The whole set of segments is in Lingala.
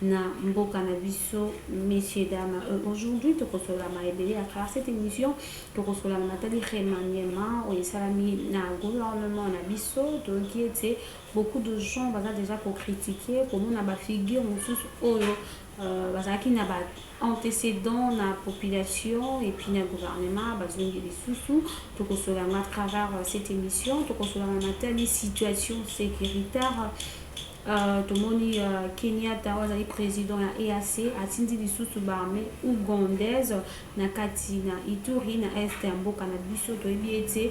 na mboka na biso messieurs dames euh, aujourd'hui tokosolama ebele à travers cette émission tokosolana matali remaniement oyo esalami na gouvernement na biso toyoki ete beaucoup de gens baza déjà kocritiquer komona bafigure mosusu oyo euh, bazalaki na ba antécédent na population et puis na gouvernement bazongi lisusu tokosolana à travers euh, cette émission tokosolana matali situation sécuritaire Tomoni Kenyatta oyo azali president ya EAC atindi lisusu ba armee ougandaise na kati na Ituri na est ya mboka na biso. Toyebi ete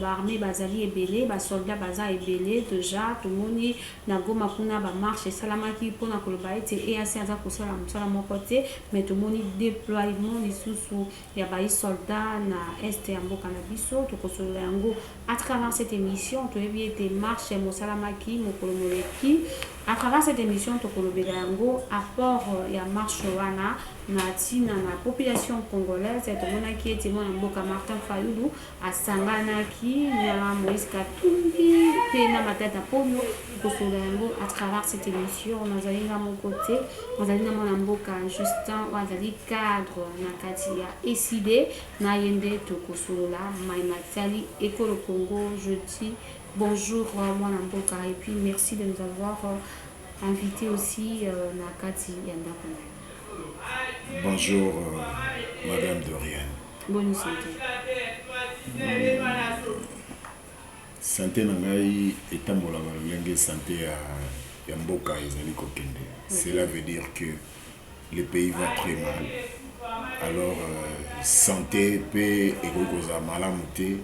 ba armee bazali ebele, ba soldats baza ebele dejà. Tomoni na Goma kuna ba marche esalamaki mpo na koloba ete EAC aza kosala mosala moko te, mais tomoni deploiement lisusu ya bayi soldats na Est ya mboka na biso. Tokosolola yango à travers cette emission. Toyebi ete marche mosalamaki mokolo moleki. À travers cette emission, tokolobela yango apport ya marche wana na tina na population congolaise. Tomonaki ete mwana mboka Martin Fayulu Asanganaki na Moïse Katumbi mpe na Matata Ponyo kosolola yango à travers cette emission. Nazali nga moko te, nazali na mwana mboka Justin oyo azali cadre na kati ya ECD, na ye nde tokosolola mai matali ekolo Congo. Je dis bonjour mwana mboka et puis merci de nous avoir invité aussi na kati ya ndako na yo. Bonjour, euh, Madame Dorian. Boni sante? Sante na ngai etambolaka lolenge sante ya, ya mboka ezali kokende. Cela veut dire que le pays va très mal. Alors euh, sante pe ekoki kozala malamu te.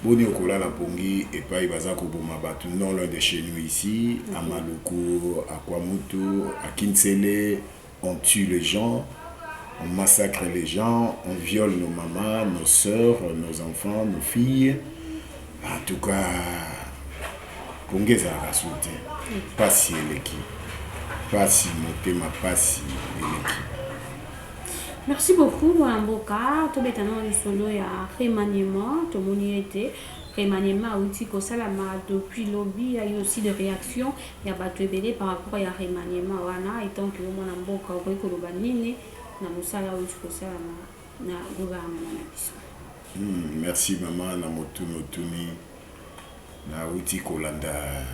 Boni okolala pongi epai baza koboma bato non loin de chez nous ici, à Maluku, à Kwamutu, à Kinsele, On tue les gens, on massacre les gens, on viole nos mamans, nos soeurs, nos enfants, nos filles. En tout cas, konge ezalaka solo te. Pasi eleki. Pasi motema pasi eleki. Merci beaucoup mwana mboka tobeta nao lisolo ya remaniement tomoni ete remaniement auti kosalama depuis lobi ya yo aussi de réaction ya batu ebele par rapport ya remaniement wana etant que yo mwana mboka okoki koloba nini na musala owuti kosala na na gouvernement na biso. Hum merci maman na motuna otuni nawuti kolanda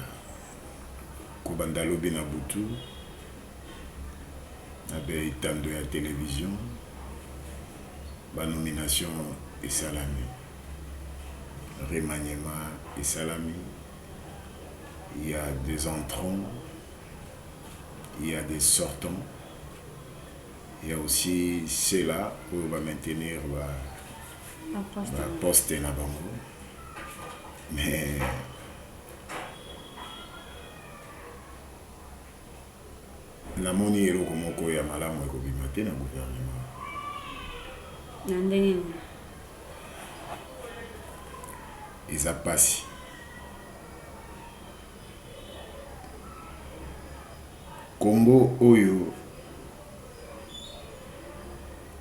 kobanda lobi na butu na ba etando ya television ba nomination esalami remaniement esalami il ya des entrants il ya des sortants il ya aussi ceux là oyo ba maintenir ba ba poste na bango mais namoni eloko moko ya malamu ekobima te na gouvernement na ndenge Eza pasi Congo oyo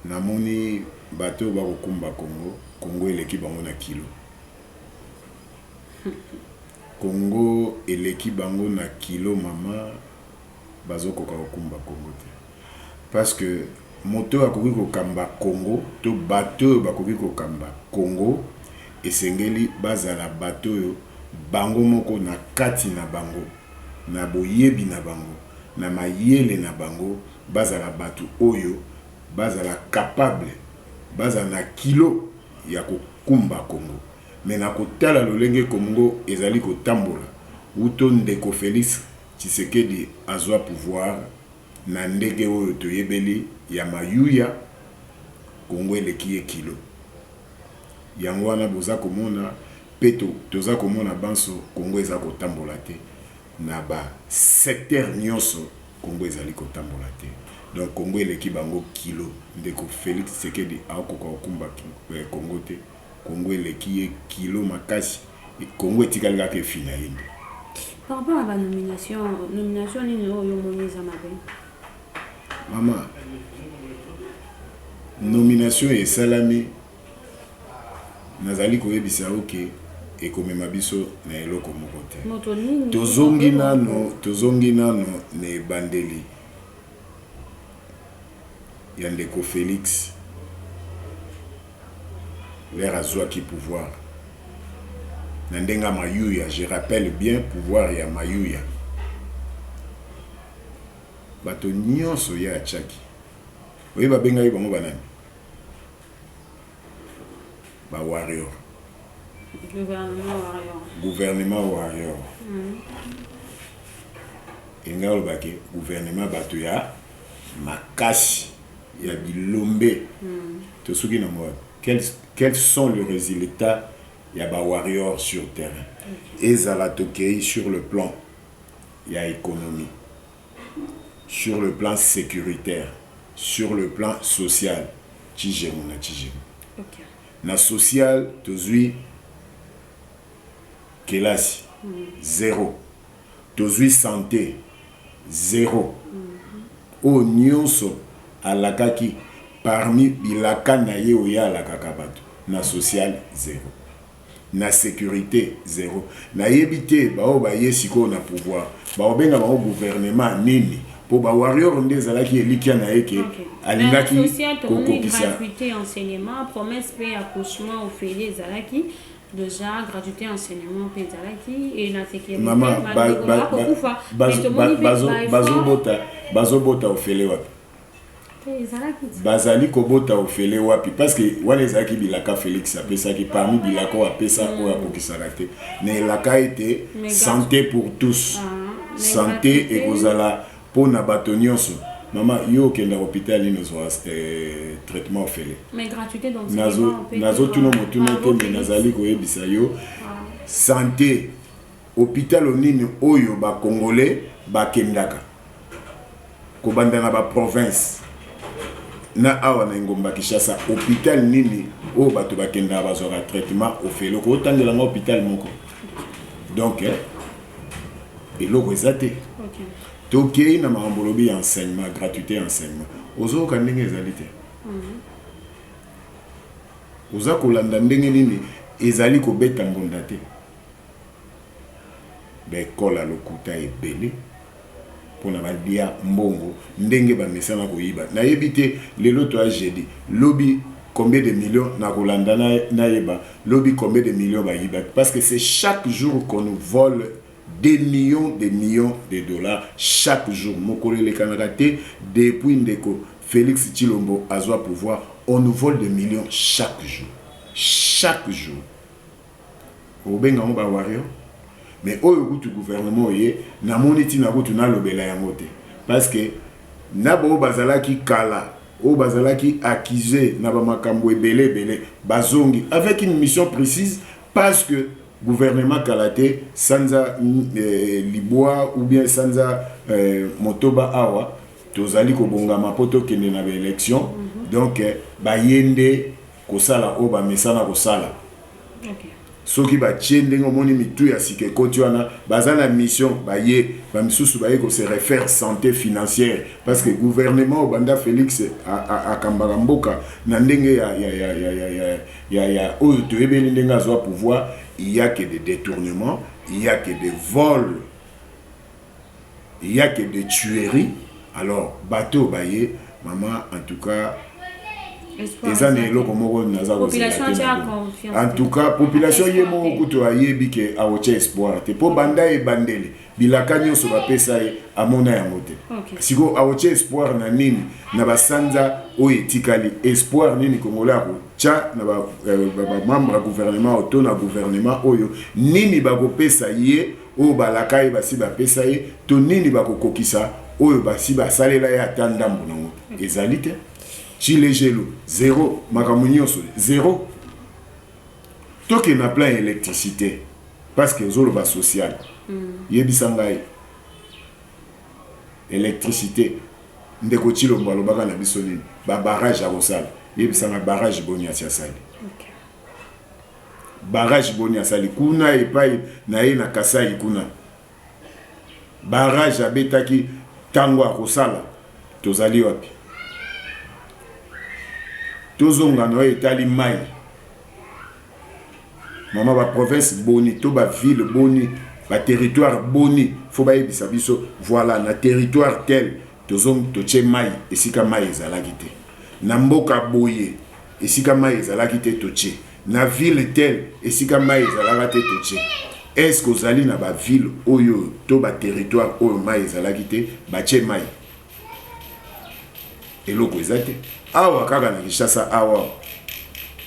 na moni bato oyo bako kumba Congo, Congo eleki bango na kilo Congo eleki bango na kilo maman. bazo koka ko kumba Congo te parce que moto oyo akoki ko kamba Congo to bato oyo bakoki ko kamba Congo esengeli ba zala bato oyo bango moko na kati na bango na boyebi na bango na mayele na bango ba zala bato oyo ba zala capable ba zala na kilo ya ko kumba Congo mais na ko tala lolenge Comgo ezali ko tambola wuto ndeko Felix Tshisekedi azua pouvoir na ndege oyo toyebeli ya mayuya Congo eleki ye kilo yango wana boza komona pe toza komona banso Congo eza kotambola te na ba secteur nionso Congo ezali kotambola te donc Congo eleki bango kilo ndeko Felix Tshisekedi akoka kokumba Congo te. Congo eleki ye kilo makasi et Congo etikali kaka efina ye nde. Par rapport à ba nomination, nomination nini oyo yo omoni eza mabe? Maman, nomination esalami nazali koyebisa yo que ekomema biso na eloko moko te. Moto nini? Tozongi nano, tozongi nano na ebandeli ya ndeko Felix. leur azuaki pouvoir na ndenge ya mayuya je rappelle bien pouvoir ya mayuya bato nionso ye atiaki oyebi babengaki bango banani ba warrior gouvernement warrior mm. engai olobaki gouvernement bato ya makasi ya bilombe tosuki nango wapi quels sont le resultat ya ba warrior sur terrain ezala tokeyi sur le plan ya economie sur le plan securitaire sur le plan social tshijemu na tshijemu okay. na social tozui kelasi mm. zero mm. tozui sante zero oyo nionso alakaki parmi bilaka naye oye alakaka batu na social zero na securite zero nayebi te baoyo baye sikoyo na pouvoir bakobenga bango gouvernement nini po ba warrior nde ezalaki elikya naye ke alingaki kokokisa. dejà gratuité enseignement mpe ezalaki e na sekeakokufa bazobota ofele wapi bazali kobota ofele wapi parce que wana ezalaki bilaka félix apesaki parmi bilaka oyo apesa mm. oyo akokisaka te na elaka ete santé pour tous ah, santé ekozala Po na bato nionso. Maman yo okendaka hopital nini ozua traitement ofele? Nazo tuna motuna te mais nazali koyebisa yo sante hopital nini oyo ba congolais bakendaka kobanda na ba province na awa na engumba Kinshasa hopital nini oyo bato bakendaka bazuaka traitement ofele? Okoki kotangela nga hopital moko? Donc eloko eza te tokei na makambo olobi ya enseignement gratuité ya enseignement ozoyoka ndenge ezali te mhm. oza kolanda ndenge nini ezali kobeta mbonda te baekola lokuta ebele pona ba lia mbongo ndenge ba mesana ko yiba na yebi te lelo toya jeudi lobi combien de millions na ko landa na yeba lobi combien de millions ba yibaki parce que c'est chaque jour qu'on nous vole des millions des millions de dollars chaque jour mokolo elekanaka te depuis ndeko Felix Tshilombo azwa pouvoir on nous vole des millions chaque jour chaque jour Okobenga yango ba wario mais oyo kutu gouvernement oye namoni ntina kutu nalobela yango te parce que na baoyo bazalaki kala oyo bazalaki accuse na bamakambo ebele ebele bazongi avec une mission précise parce que gouvernement kala te sanza eh, libwa ou bien sanza eh, motoba awa tozali kobongama mpo tokende na baélection mhm. donc eh, baye nde Kosala oyo bamesana kosala. Soki batie ndenge omoni mitu ya sika ekoti wana baza na mission baye ba misusu baye ko se refaire sante financière parce que gouvernement oyo banda Felix akambaka mboka na ndenge ya oyo toyebeli ndenge azua pouvoir il ya que des detournements il ya que des vols il ya que de tuerie alors bato oyo baye mama en tout cas eza na eloko moko naza en tout cas population ye moko kutu ayebi ke aotya espoir te mpo banda ebandeli bilaka nyonso bapesa ye amona yango te sikoyo aotya espoir na nini na basanza oyo etikali espoir nini kongola ya kotya na bamembre euh, ya gouvernement oyo to na gouvernement oyo nini bakopesa ye oyo balaka ye basi bapesa ye, to nini bakokokisa oyo basi basalela ye ata ndambo nango ezali te. Chilejelo zero, makambo nyonso zero. Toke na plan ya electricite parce que ozoloba social. Mm. Yebisa ngai electricite ndeko Chilombo alobaka na biso nini? Ba barrage akosala. Yebisa ngai barrage boni asi asali. Okay. Barrage boni asali kuna epayi naye na Kasaï kuna? Barrage abetaki tangu akosala tozali wapi? Tozonga na oyo etali mayi. Maman ba province boni to ba ville boni ba territoire boni faut bayebisa biso voilà na territoire tel tozongi totie mayi esika mayi ezalaki te na mboka boye Esika mayi ezalaki te totie. Na ville telle esika mayi ezalaka te totie. Est ce que ozali na ba ville oyo to ba territoire oyo mayi ezalaki te batie mayi? Eloko eza te. Awa kaka na Kinshasa awa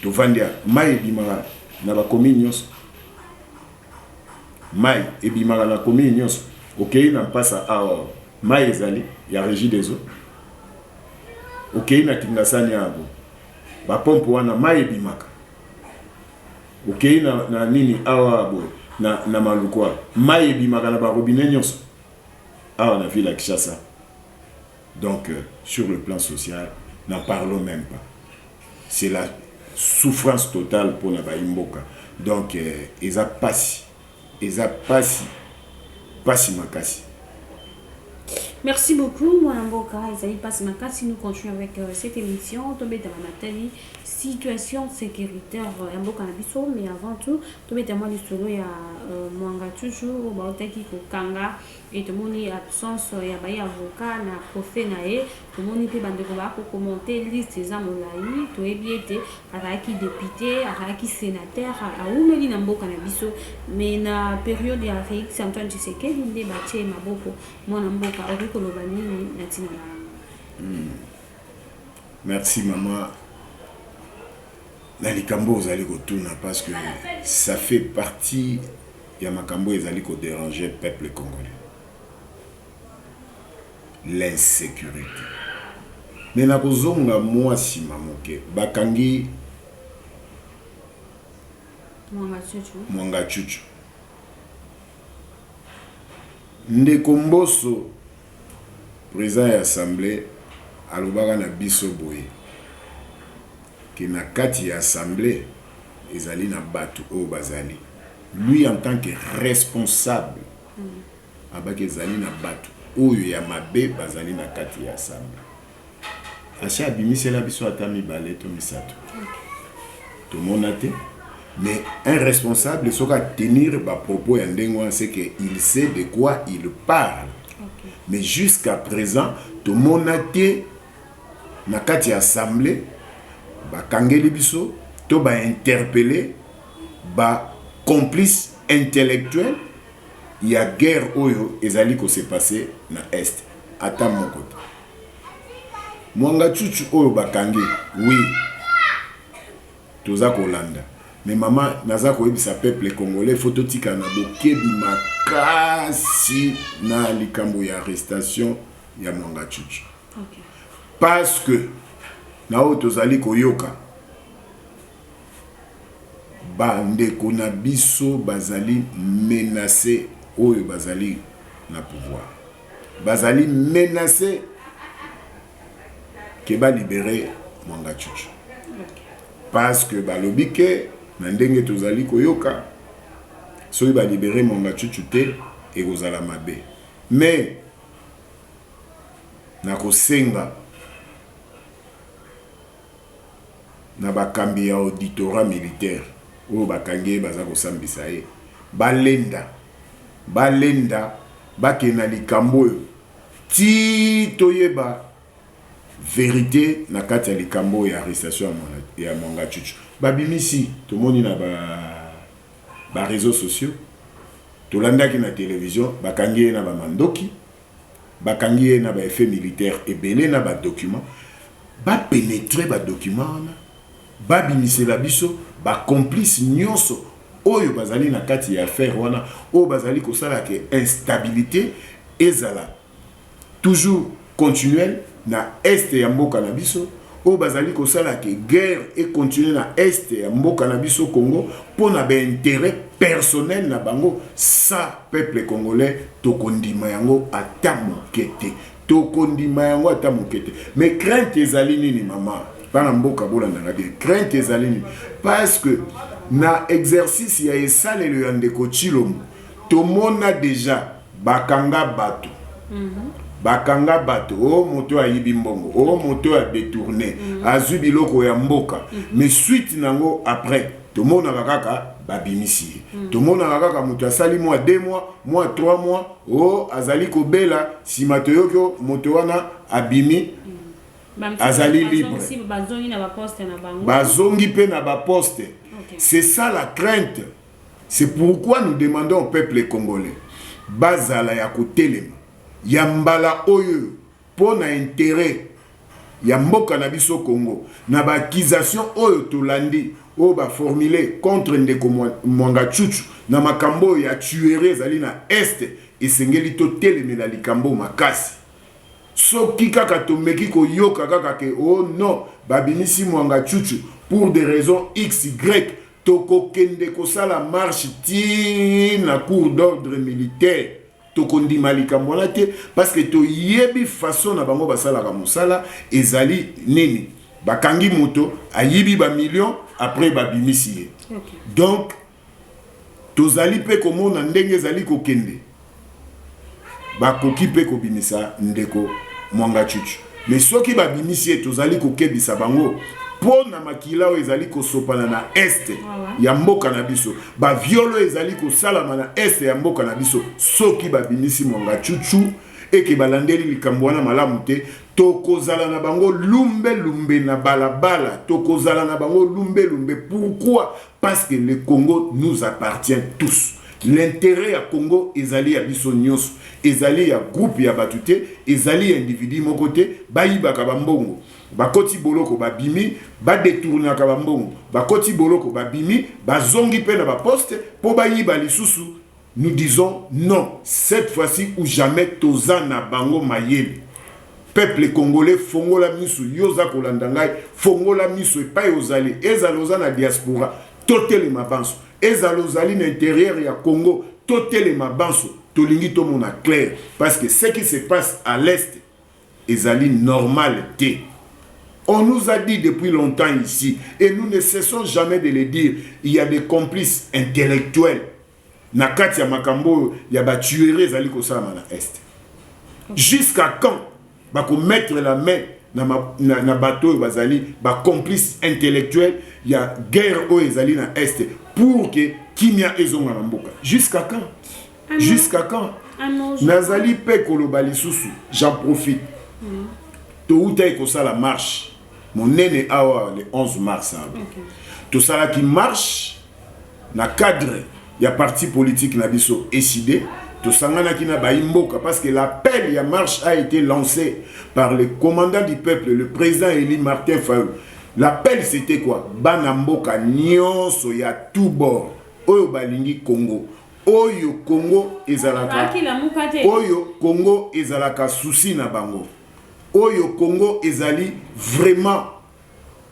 tovandi awa mayi ebimaka na ba commune nyonso. Mayi ebimaka na commune nyonso. Okeyi na mpasa awa mayi ezali ya regie des eaux. okeyi na kingasani yago ba pompe wana mai ebimaka okeyi na, na nini awa boye na, na malukwa mai ebimaka na barobine nyonso awa na ville ya kishasa donc euh, sur le plan social n'en parlons même pas c'est la souffrance totale mpona bayi mboka donc euh, eza mpasi Eza pasi pasi makasi. Merci beaucoup mwana mboka ezali pasi makasi nous continue avec cette émission tobeta ba matali situation sécuritaire ya mboka na biso mais avant tout tobeta mwa lisolo ya euh, mwanga toujours baotaki kokanga Et tomoni absence ya baye avocat na procès na ye, tomoni pe bandeko ba ko commenter liste eza molayi, toyebi ete azalaki depute, azalaki senateur, awumeli na mboka na biso mais na periode ya Felix Antoine Tshisekedi nde batie ye maboko, mwana mboka okoki koloba nini na tina na yango? Hum merci maman na likambo ozali kotuna parce que ça fait partie ya makambo oyo ezali ko deranger peuple congolais l'insecurite mais na kozonga mua sima moke bakangi Mwangachuchu ndeko Mboso président ya assemblée alobaka na biso boye ke na kati ya assemblée ezali na bato oyo bazali Lui en tant que responsable abaki ezali na batu oyo ya mabe bazali na kati ya assemblee asi abimisela biso ata mibale to misatu tomona te mais un responsable soki a tenir ba propos ya ndenge wana c'est que il sait de quoi il parle mais jusqu'à présent tomona te na kati ya assemblee ba kangeli biso to ba interpelle ba complices intellectuels ya guerre oyo ezali ko se passer na Est? Ata moko te. Mwangachuchu oyo ba kangi, oui toza ko landa mais maman naza ko yebisa peuple congolais faut totika na bokebi makasi na likambo ya arrestation ya Mwangachuchu parce que na oyo tozali koyoka ba ndeko na biso bazali menace oyo bazali na pouvoir bazali menace ke ba libere Mwangachuchu parce que balobi ke na ndenge tozali koyoka soki ba libere Mwangachuchu te ekozala mabe mais na kosenga na bakambi ya auditorat militaire oyo bakangi ye baza kosambisa ye balenda balenda bakende na likambo oyo ti toyeba verite na kati ya likambo oyo ya arrestation ya Mwangachuchu babimisi tomoni na ba ba reseaux sociaux tolandaki na television bakangi ye na ba mandoki bakangi ye na ba effet militaire ebele na ba document ba penetre ba document wana babimisela biso ba complice nyonso oyo bazali na kati ya affaire wana oyo bazali kosala ke instabilité ezala toujours continuelle na Est ya mboka na biso oyo bazali kosala ke guerre e continuer na Est ya mboka na biso Congo mpo na ba interet personnel na bango sa peuple congolais tokondima yango ata moke te tokondima yango ata moke te mais crainte ezali nini mama bana mboka bolandaka bien crainte ezali nini parce que na exercice ya esalelo ya ndeko Tshilombo tomona deja Bakanga batu bakanga batu oh moto ayibi mbongo oh moto a detourne azui biloko ya mboka mais suite nango après tomonaka kaka babimisi ye tomonaka kaka moto asali mua deux mois mua trois mois oh azali kobela sima toyoki oh moto wana abimi azali libre bazongi pe na ba poste c'est ça la crainte C'est pourquoi nous demandons au peuple congolais bazala ya kotelema ya mbala oyoyo mpo na interet ya mboka na biso Congo na ba accusations oyo tolandi oyo ba formuler contre ndeko Mwangachuchu na makambo oyo ya tuerie ezali na Est esengeli totelemela likambo oyo makasi. Soki kaka tomeki koyoka kaka ke oh non babimisi Mwangachuchu pour des raisons xy Tokokende kosala marche ti na cour d'ordre militaire. Tokondima likambo wana te parce que toyebi façon na bango basalaka mosala ezali nini. Bakangi moto ayibi ba millions après babimisi ye. Okay. Donc tozali pe komona ndenge ezali kokende. bakoki mpe kobimisa ndeko Mwangachuchu. Mais soki babimisi ye, tozali kokebisa bango mpo na makila oyo ezali kosopana na est ya mboka na biso, ba viol oyo ezali kosalama na est ya mboka na biso. Soki babimisi Mwangachuchu et que balandeli likambo wana malamu te, tokozala na bango lumbe lumbe na balabala, tokozala na bango lumbe lumbe. Pourquoi? Parce que le Congo nous appartient tous l'interet ya Congo ezali ya biso nionso ezali ya groupe ya batu te ezali ya individu moko te bayibaka ba mbongo bakoti boloko babimi badetournaka ba mbongo bakoti boloko babimi bazongi pe na ba poste po bayiba lisusu Nous disons non cette fois ci ou jamais toza na bango mayele peuple congolais fongola misu yo oza kolanda ngai fongola misu epai ozali ezala oza na diaspora totelema banso ezala ozali na interieur ya congo totelema banso tolingi tomona claire parce que ce qui se passe à l'est ezali normal te On nous a dit depuis longtemps ici, et nous ne cessons jamais de le dire, il y a des complices intellectuels na kati ya makambo oyo ya ba tuerie ezali kosalama na est jusqu'à quand bakomettre la main na, na, na bato oyo bazali bacomplice intellectuel ya guerre oyo ezali na est pour que kimia ezonga na mboka jusqu'à quand ah jusqu'à quand ah nazali mpe koloba lisusu j'en profite mm. toutaki kosala marche monene awa le 11 mars awa okay. tosalaki marche Na cadre ya parti politique na biso Ecide, tosanganaki na bayi mboka parce que l'appel ya marche a ete lance par le commandant du peuple, le president elu Martin Fayulu. L'appel c'etait quoi? Bana mboka nionso ya tout bord oyo balingi Congo, oyo Congo ezalaka, oyo Congo ezalaka souci na bango, oyo Congo ezali vraiment,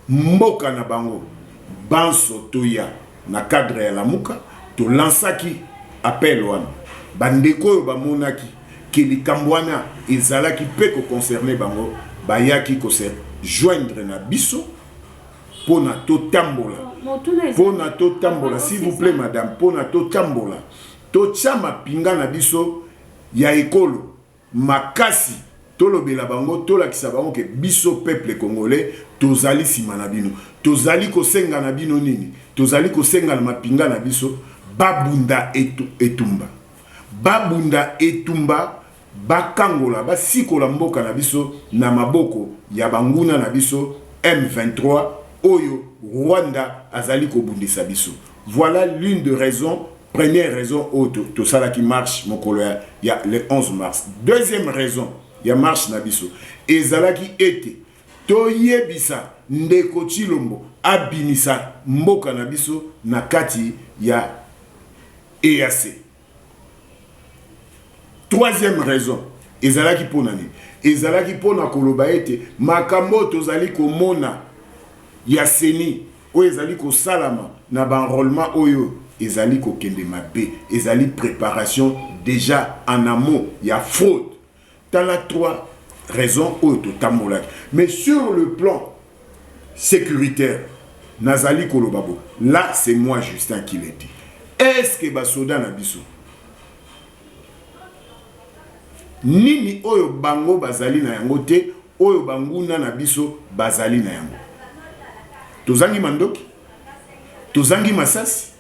mboka na bango banso toya na cadre ya lamuka to lansaki appel wana ba ndeko oyo ba monaki que likambo wana ezalaki pe ko concerner bango bayaki ko se joindre na biso pona to tambola pona to tambola s'il vous plait madame pona to tambola to tia mapinga na biso ya ekolo makasi tolobela bango tolakisa bango ke biso peuple congolais tozali sima na bino tozali kosenga na bino nini tozali kosenga na mapinga na biso babunda etumba babunda etumba bakangola basikola mboka na biso na maboko ya banguna na biso M23 oyo Rwanda azali kobundisa biso voilà l'une de raison Première raison oyo oh, tosalaki marche mokolo ya, ya le 11 mars. Deuxième raison ya marche na biso ezalaki ete toyebisa ndeko Chilombo abimisa mboka na biso na kati ya EAC. Troisième raison ezalaki mpo na nini? Ezalaki mpo na koloba ete makambo oyo tozali komona ya seni Oyo ezali kosalama na ba enrolement oyo ezali kokende mabe, ezali preparation deja en amont ya fraude. Tala trois raisons oyo totambolaki. Mais sur le plan securitaire, nazali koloba boye, là c'est moi Justin qui le dit, est ce que ba soda na biso, nini oyo bango bazali na yango te? oyo banguna na biso bazali na yango. Tozangi mandoki, tozangi masasi.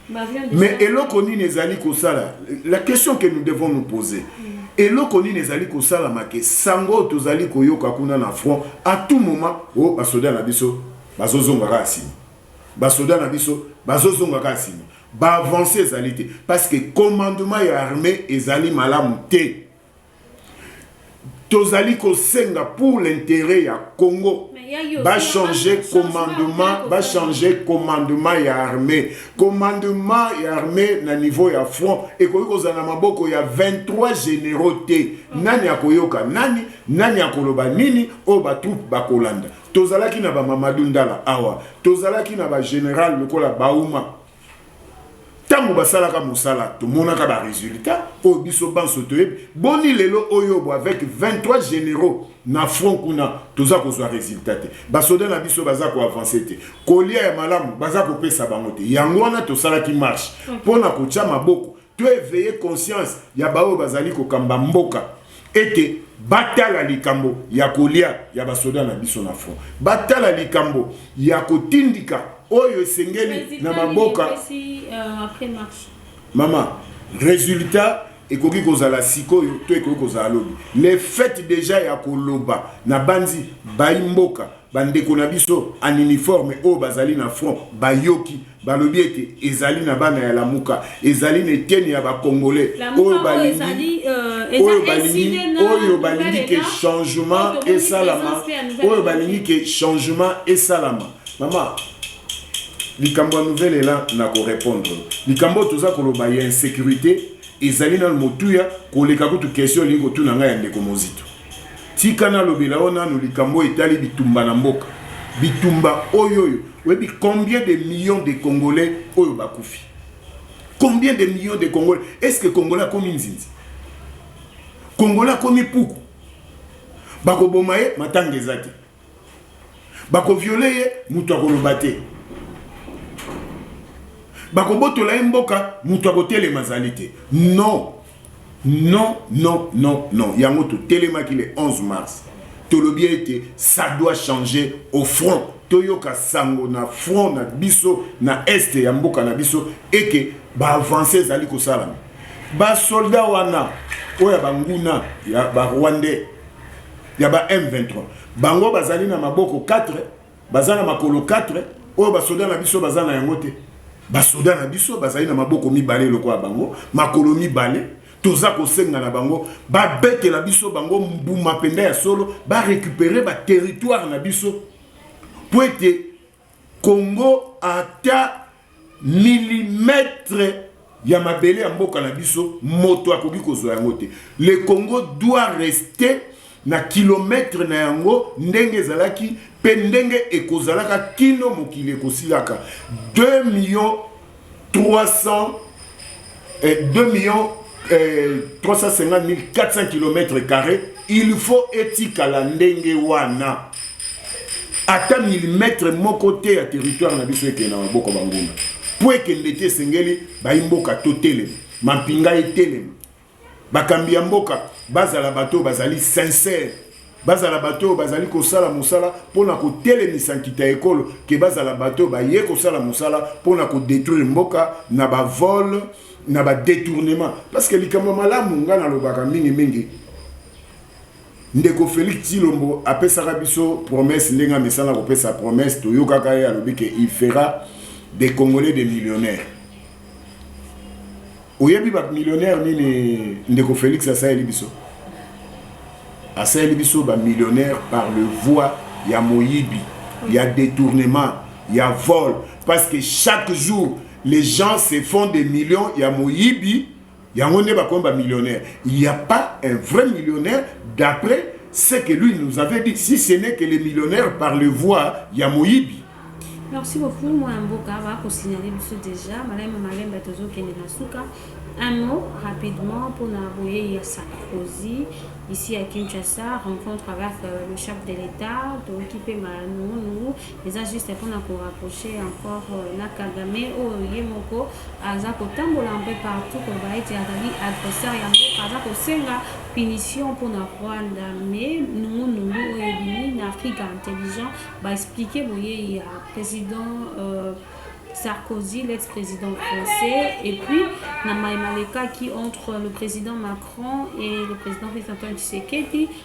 Mais eloko nini ezali kosala? La question que nous devons nous poser. Eloko nini ezali kosala make sango oyo tozali koyoka kuna na front à tout moment o oh, basoda na biso bazozonga kaka nsima basoda na biso bazozonga kaka nsima baavance ezali te parce que commandement ya armée ezali malamu te tozali kosenga pour l'interet ya congo bachange commandement bachange commandement ya armée commandement ya armée na niveau ya front ekoki kozala na maboko ya 23 généraux te nani akoyoka nani nani akoloba nini oyo batroupe bakolanda tozalaki na bamamadu ndala awa tozalaki na bagénéral lokola bauma ntango basalaka mosala tomonaka baresultat oyo biso banso toyebi boni lelo oyo bo avec 23 généraux na front kuna toza kozwa résultat te basoda na biso baza koavance te kolia ya malamu baza kopesa bango te yango wana tosalaki marche mpo na kotya maboko To eveiller conscience ya baoyo bazali kokamba mboka ete batala likambo ya kolia ya basoda na biso na front, batala likambo ya kotindika oyo esengeli na maboka. Euh, Mama, resultat ekoki kozala sikoyo to ekoki kozala lobi le fait deja ya koloba na banzi bayi mboka Bandeko na biso en uniforme oyo bazali na front bayoki balobi ete ezali na bana ya Lamuka, ezali na eteni ya ba Congolais oyo balingi euh, oyo balingi oyo balingi ke changement esalama, oyo balingi ke changement esalama. Mama, likambo ya nouvelle ela na ko répondre likambo oyo toza koloba ya insecurite ezali nanu motuya koleka kutu question olingi kotuna ngai ya ndeko Mozito. tika nalobela yo nanu likambo oyo etali bitumba na mboka bitumba oyo oyo oyebi combien de millions de congolais oyo bakufi combien de millions de congolais est ce que congolais akomi nzinzi congolais akomi puku bakoboma ye matanga eza te bako viole ye moto akoloba te bakobotola ye mboka moto akotelema azali te non non non non non yango totelemaki le 11 mars tolobi ete ça doit changer au front toyoka sango na front na biso na este ya mboka na biso eke baavance ezali kosalama basoldat wana oyo ya banguna ya barwandais ya ba M23 bango bazali na maboko 4 baza na makolo 4 oyo basoda na biso baza na yango te basoda na biso bazali na maboko mibale lokola bango makolo mibale toza kosenga na bango babetela biso bango mbuma mpenza ya solo barécupere baterritoire na biso mpo ete Congo ata milimetre ya mabele ya mboka na biso moto akoki kozwa yango te le congo doit rester na kilometre na yango ndenge ezalaki mpe ndenge ekozalaka kino mokili ekosilaka 2 millions 300 et 2 millions eh, 350 000 400 km carré il faut etikala ndenge wana ata milimetre moko te ya territoire na biso ekende na maboko banguna mpo ekende te esengeli bayi mboka totelema mampinga etelema Bakambi ya mboka bazala bato oyo bazali sincère, bazala bato oyo bazali kosala mosala mpo na kotelemisa nkita ya ekolo ke bazala bato oyo baye kosala mosala mpo na kodetruire mboka na bavole na badetournement parce que likambo ya malamu ngai nalobaka mingimingi ndeko Felix Tshilombo apesaka biso promesse ndenge amesana kopesa promesse toyokaka ye alobi ke il fera des Congolais des millionnaires oyebi ba millionnaire nini ndeko Felix asaleli biso asaleli biso ba millionnaire par le voie ya moyibi ya détournement ya vol parce que chaque jour les gens se font des millions ya moyibi yango nde bakomi ba millionnaire il y a pas un vrai millionnaire d'après ce que lui nous avait dit si ce n'est que les millionnaires par le voie ya moyibi merci beaucoup mwana mboka bakosignale biso déjà malema malemba tozokende na suka un mot rapidement mpona boyei ya sarkozy ici à kinshasa rencontre avec euh, le chef de l'état toyoki mpe manungunungu Eza juste pona ko rapprocher encore na Kagame oyo ye moko aza kotambola un peu partout koloba ete azali adversaire ya mboka, aza kosenga punition pona Rwanda mais nungu nungu oyo ebimi na Afrika intelligent ba expliquer boyei ya president euh, Sarkozy, l'ex-président français, et puis Namaï Malekaki entre le président Macron et le président Félix Antoine Tshisekedi.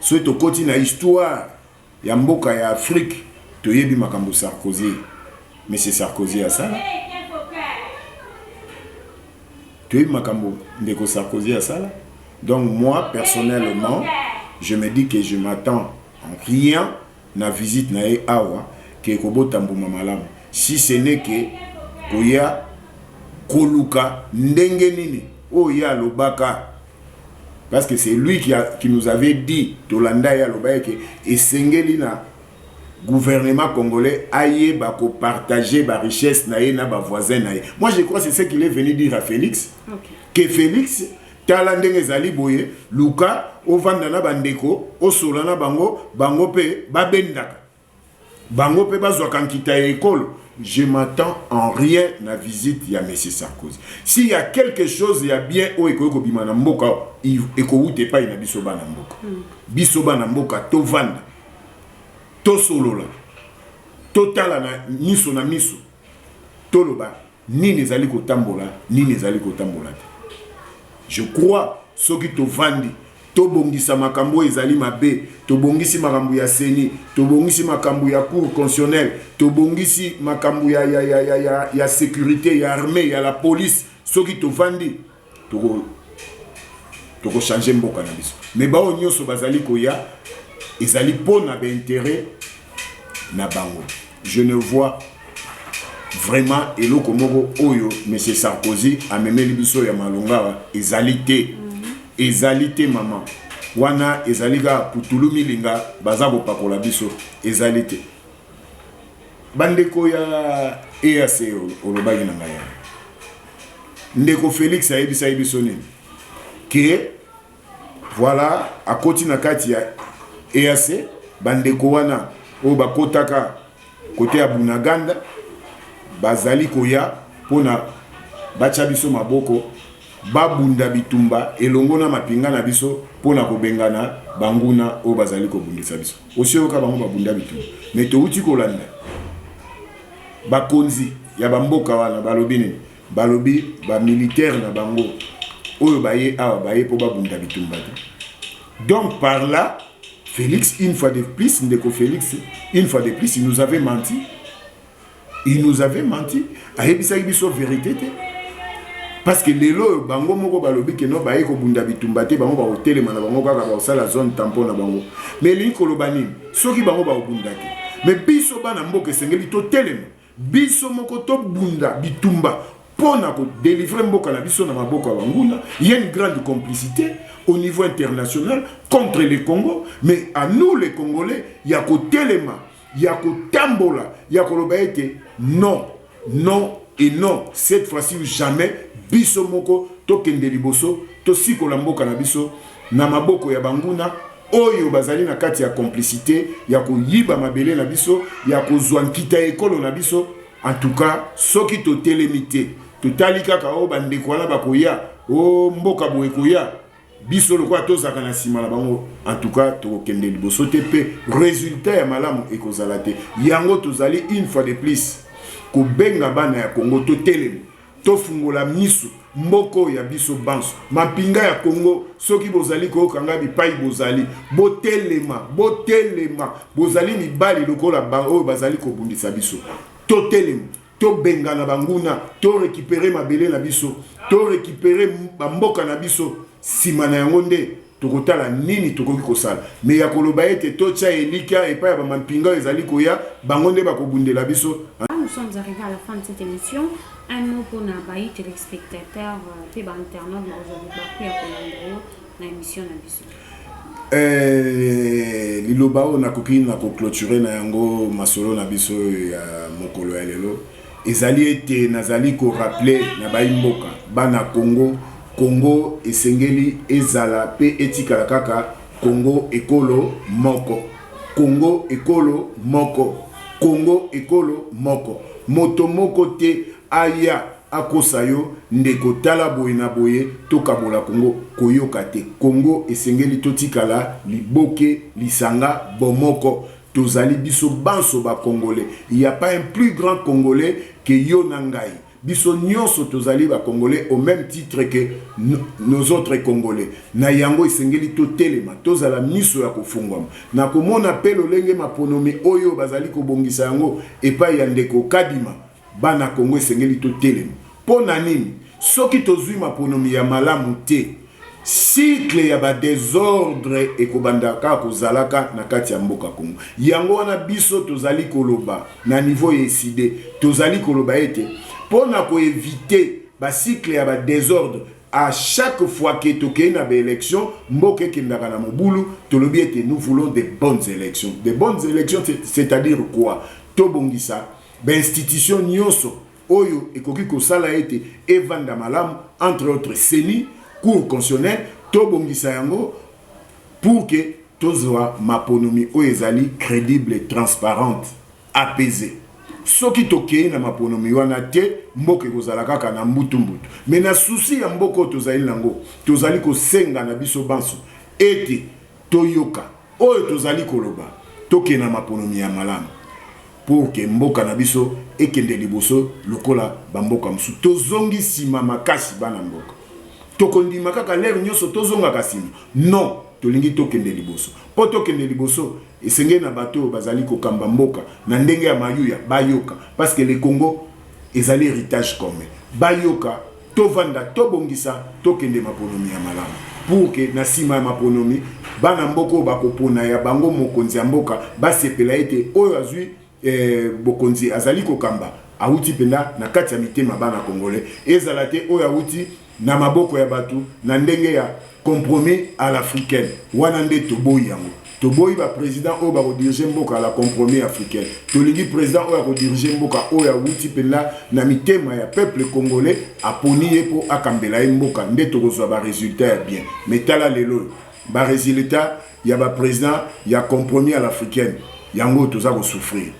Soki tokoti na histoire ya mboka ya Afrique, toyebi makambo Sarkozy, monsieur Sarkozy asala. Toyebi makambo ndeko Sarkozy asala. Donc moi personnellement, je me dis que je m'attends en rien na visite na ye awa que ekobota mbuma malamu si ce n'est que koya koluka ndenge nini oyo ye alobaka parce que c'est lui qui, a, qui nous avait dit tolanda ye alobaki ke esengeli na gouvernement congolais ayeba ko partager ba richesse na ye na ba voisins na ye moi je crois c'est ce qu'il est venu dire à Felix okay. que Felix Tala ndenge ezali boye, luka ovanda na bandeko, osola na bango, bango pe babendaka, bango pe bazwaka nkita ya ekolo. Je m'attends en rien na visite ya Monsieur Sarkozy. S'il y a quelque chose ya bien oyo ekoki kobima na mboka, ekowuta epai na biso bana mboka. Hmm. Biso bana mboka tovanda, tosolola, totalana miso na miso, toloba Nini ezali kotambola, nini ezali kotambola te. Je crois soki tovandi tobongisa makambo ezali mabe, tobongisi makambo ya seni, tobongisi makambo ya cour constitutionnel, tobongisi makambo ya, ya, ya, ya, ya, ya securite, ya armee, ya la police, soki tovandi toko toko changer mboka na biso mais baoyo nyonso bazali koya ezali mpo na bainteret na bango je ne vois vraiment eloko moko oyo monsieur sarkozy amemeli biso ya malongawa ezali te mhm. ezali te mama wana ezali kaka putulu milinga baza kopakola biso ezali te bandeko ya eac olobaki na ngai ndeko felix ayebisaki biso nini ke voilà akoti na kati ya eac bandeko wana oyo bakotaka kote ya bunaganda bazali koya mpona batya biso maboko babunda bitumba elongo na mapinga na biso mpona kobengana banguna oyo bazali kobundisa biso Osi oyoka bango babunda bitumba? Mais towuti kolanda bakonzi ya bamboka wana balobi nini? Balobi ba militaire na bango oyo baye awa baye mpo babunda bitumba te. Donc par là Felix une fois de plus ndeko Felix une fois de plus il nous avait menti. il nous avait menti ayebisaki biso verité te parce que lelo oyo bango moko balobi ke no baye kobunda bitumba te bango bakotelema na bango kaka bakosala zone tampon na bango mais elingi koloba nini soki bango bakobunda te mais biso bana mboka esengeli totelema biso moko tobunda bitumba mpo na kodelivre mboka na biso na maboko ya banguna ya une grande complicité au niveau international contre le congo mais à nous les congolais ya kotelema ya kotambola ya koloba ete non non et non cette fois-ci ou jamais biso moko tokende liboso tosikola mboka na biso na maboko ya banguna oyo bazali na kati ya complicité ya koyiba mabele na biso ya kozwa nkita ya ekolo na biso en tout cas soki totelemi te totali kaka oyo oh, bandeko wana bakoya o oh, mboka boye koya biso lokola tozalaka na nsima na bango antuka tokokende liboso te mpe resultat ya malamu ekozala te yango tozali une fois de plus kobenga bana ya kongo totelema tofungola miso mboka oyo ya biso banso mampinga ya kongo soki bozali koyoka ngai bipai bozali botelema botelema bozali mibali lokola baoyo bazali kobundisa biso totelema tobengana banguna to recupere mabele na biso to recupere bamboka na biso nsima na yango nde tokotala nini tokoki kosala me ya koloba ete totya elikya epai ya bamampinga oyo ezali koya bango nde bakobundela biso nous sommes arrivés à la fin de cette émission un mot mpo na bayi telespectateur mpe euh, bainternaute na ozali bakuya kolanda yo na émission na biso Eh, liloba oyo nakoki na kocloture na yango masolo na biso ya mokolo ya lelo ezali ete nazali koraple na bayi mboka bana Congo Congo esengeli ezala pe etikala kaka Congo ekolo moko Congo ekolo moko Congo ekolo moko moto moko te aya akosa yo ndeko tala boye na boye tokabola congo koyoka te congo esengeli totikala liboke lisanga bomoko tozali biso banso ba congole il ya pas un plus grand congole que yo na ngai biso nionso tozali ba congole au meme titre que nos autres congole na yango esengeli totelema tozala miso ya kofungwama na komona pe lolenge maponomi oyo bazali kobongisa yango epai ya ndeko kadima Bana Congo esengeli to telema po na nini soki tozui maponomi ya malamu te cycle ya ba desordre ekobanda kaka kozalaka na kati ya mboka Congo yango wana biso tozali koloba na niveau ya ecide tozali koloba ete po na ko eviter ba cycle ya ba desordre a chaque fois que tokei na ba election mboka ekendaka na mobulu tolobi ete nous voulons de bonnes elections de bonnes elections c'est-à-dire quoi tobongisa Bainstitution nionso oyo ekoki kosala ete evanda malamu, entre autres ceni, Cour constitutionnelle, tobongisa yango pour que tozua maponomi oyo ezali credible, transparente, apaisee. Soki tokeyi na maponomi wana te, mboka ekozala kaka na mbutu mbutu. Mais na souci ya mboka oyo tozali na yango, tozali kosenga na biso banso ete Toyoka oyo tozali koloba, tokende na maponomi ya malamu pour que mboka na biso ekende liboso lokola ba mboka mosusu. Tozongi sima makasi bana mboka. Tokondima kaka l'heure nyoso tozongaka sima? Non, tolingi tokende liboso. Po tokende liboso, esengeli na bato oyo bazali kokamba mboka na ndenge ya mayuya bayoka parce que le Congo ezali heritage commun. Bayoka. Tovanda, tobongisa, tokende maponomi ya malamu pour que na sima ya maponomi bana mboka oyo bakopona ya bango mokonzi ya mboka basepela ete oyo azwi eh, bokonzi azali kokamba awuti mpenza na kati ya mitema bana Congolais, ezala te oyo awuti na maboko ya bato na ndenge ya Compromis à l'africaine wana nde toboyi yango. Toboyi ba president oyo bako diriger mboka à la compromis africaine. Tolingi president oyo ako diriger mboka oyo awuti mpenza na mitema ya peuple congolais aponi ye mpo akambela ye mboka nde tokozwa ba resultats ya bien. Mais tala lelo oyo ba resultats ya ba president ya compromis à l'africaine yango oyo toza ko souffrir.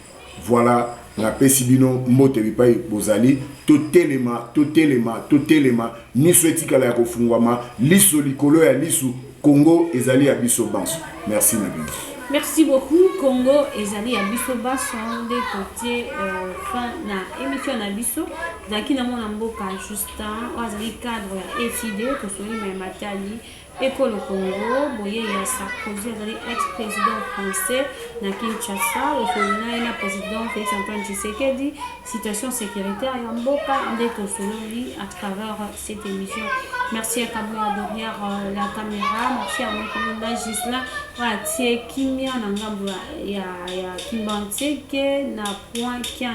Voilà, napesi bino mbote bipai bozali. Totelema, totelema, totelema, miso etikala ya kofungwama, liso likolo ya lisu. Congo ezali ya biso banso. Merci na bino. Merci beaucoup Congo ezali ya biso baso nde totie euh, fin na émission na biso tozalaki na mwana mboka Justin oyo azali cadre ya ECD tosoli mai matali Ekolo Congo, boyei ya Sarkozy azali ex-president français na Kinshasa, osolo na ye na president Felix Antoine Tshisekedi, situation securitaire ya mboka nde tosololi à travers cette émission. Merci ya Kabuya derrière euh, la caméra, merci ya Mokonda Gislain oyo atie kimia na ngambo ya Kimbanseke na point 15.